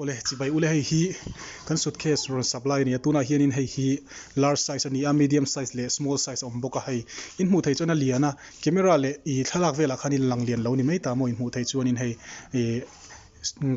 Awle, chibai ule hei hi kan suitcase rawn sap lai a ni a, tunah hianin hei hi large size a ni a, medium size leh small size a awm bawk a, hei in hmuh theih chuan a lian a, camera leh ih thlalak velah khanin lang lian lo ni mai ta maw in hmuh theih chuanin hei ih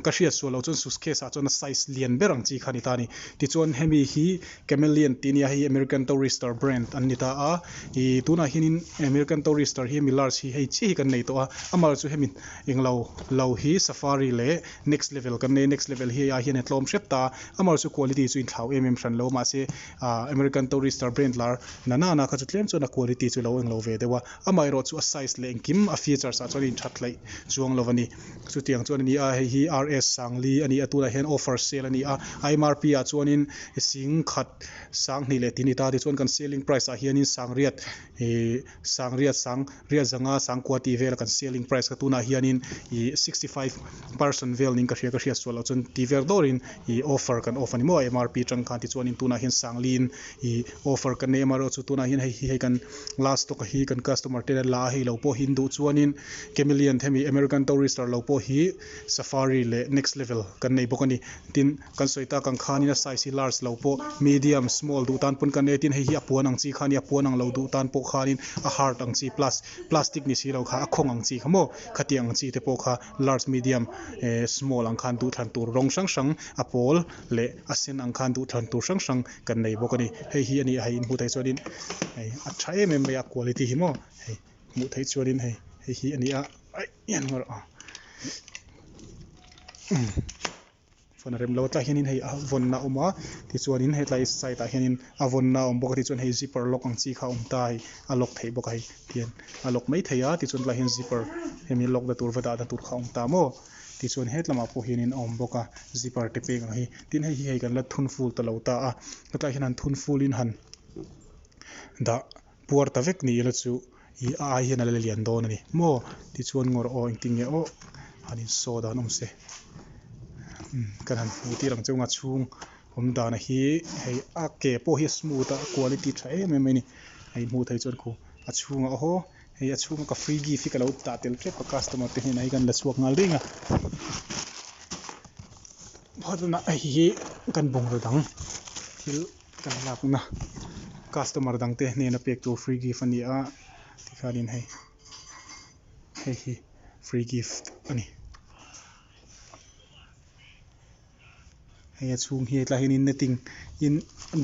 ka hriat sual lo chuan suitcase ah chuan a size lian ber ang chi kha a ni ta a ni. Tichuan hemi hi Cameliant tih a nia, hei American Tourister brand an ni ta a, ih tunah hianin American Tourister hi hemi large hi hei chiah hi kan nei tawh a, a mal chu hemi englo lo hi Safari leh next level kan nei a next level hi a hian a tlawm hrep ta a amar chu quality chu inthlau em em hran lo mahse ah American Tourister brand lar nana na kha chu tlem chuan a quality chu lo englo ve deuh a amah erawh chu a size leh engkim a features ah chuan a inthat tlaih chuang lo a ni chutiang chuan a ni a hei hi RS Sangli a ni a tunah hian offer sale a ni a a mrp ah chuanin sing khat sang hnih leh ti ni ta tichuan kan selling price ah hianin sangriat ihh. Sangriat, Sang riat zanga sangkua tih vel kan selling price kha tunah hianin i sixty five person vel ning ka hria ka hriat sual lo chuan ti ver dawrin i offer kan off a ni maw a mrp tang khan tichuanin tunah hian sangliin i offer kan nei em erawh chu tunah hian hei hi hei kan last stock a hi kan customer ten an la a hei lo pawh hi an duh chuanin camelian hemi American tourister lo pawh hi safari leh next level kan nei bawk a ni tin Kan sawi tak ang khan in a size hi large lo pawh medium, small duh tan pawn kan nei tin hei hi a puan ang chi khan i a puan ang lo duh tan pawh khan in a hard ang chi plus plastic ni si lo kha a khawng ang chi kha maw khatiang ang chi te pawh kha large medium eh small ang khan duh thlan tur rawng hrang hrang a pawl leh a sen ang khan duh thlan tur hrang hrang kan nei bawk a ni hei hi a ni a hei in hmuh theih chuan in hei a tha em em mai a quality hi maw hei hmuh theih chuan in hei hei hi a ni a aih hian maw rawh umm. Phone a rem lo a, tlaiah hianin hei a vawnna a awm a, tichuanin hetlai side ah hianin a vawnna a awm bawk a, tichuan hei zipper lock ang chi kha awm ta hei a lock theih bawk a hei tihian a lock mai thei a, tichuan tlaiah hian zipper hemi lock na tur va dahna tur kha a awm ta maw, tichuan hetlamah pawh hianin a awm bawk a, zipper te peng ang hi, tin hei hi hei kan la thun ful ta lo ta a, hetlaiah hian han thun fulin han dah. puar ta vek ni ila chu ih a ai hian ala lian dawn ani maw tichuan ngawr aw engtin nge awh han insaw dan awm se umm kan han hmuh tir ang chunga chhung awm dan a hi hei a ke pawh hi a smooth a a quality a tha em em mai a ni hei hmuh theih chuan khuh a chhungah aw haw hei a chhunga ka free gift hi ka lo tah tel tep a customer te hnenah hi kan la chhuak nghal daih anga hehe kan bungraw dang thil-- Kan lakna customer dangte hnena pek tur free gift a ni a, tikhanin hei hei hi free gift a ni. Hei a chhung hi tlai hianin netting in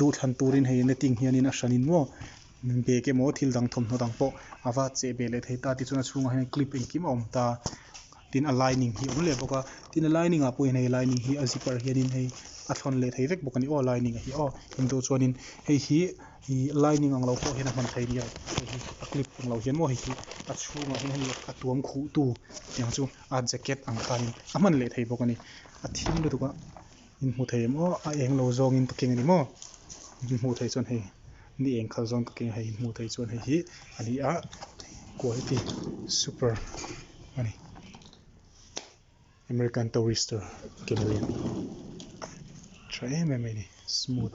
duh thlan turin hei netting hianin a hranin maw bag emaw thil dang thawmhnaw dang pawh a vat che ve leh thei ta tichuan a chhungah hian clip engkim a awm ta. tin a lining hi a awm leh bawk a tin a lining ah pawh hian hei a lining hi a zipper hianin hei a thlawn leh thei vek bawk a ni aw a lining a hi aw engto chuanin hei hi ih lining ang lo pawh hian a hman thei nia hei hi a clip ang lo hian maw hei hi a chhungah hian hei a tuam khuh tu tiang chu a jacket ang khanin a hman leh thei bawk a ni a thim lutuk a. In hmuh thei em aw a eng lo zawng in ka keng ani maw in hmuh thei chuan hei ni eng khal zawng ka keng hei in hmuh thei chuan hei hi ani a quality super ani American Tourister keng lian tha em em mai ni smooth.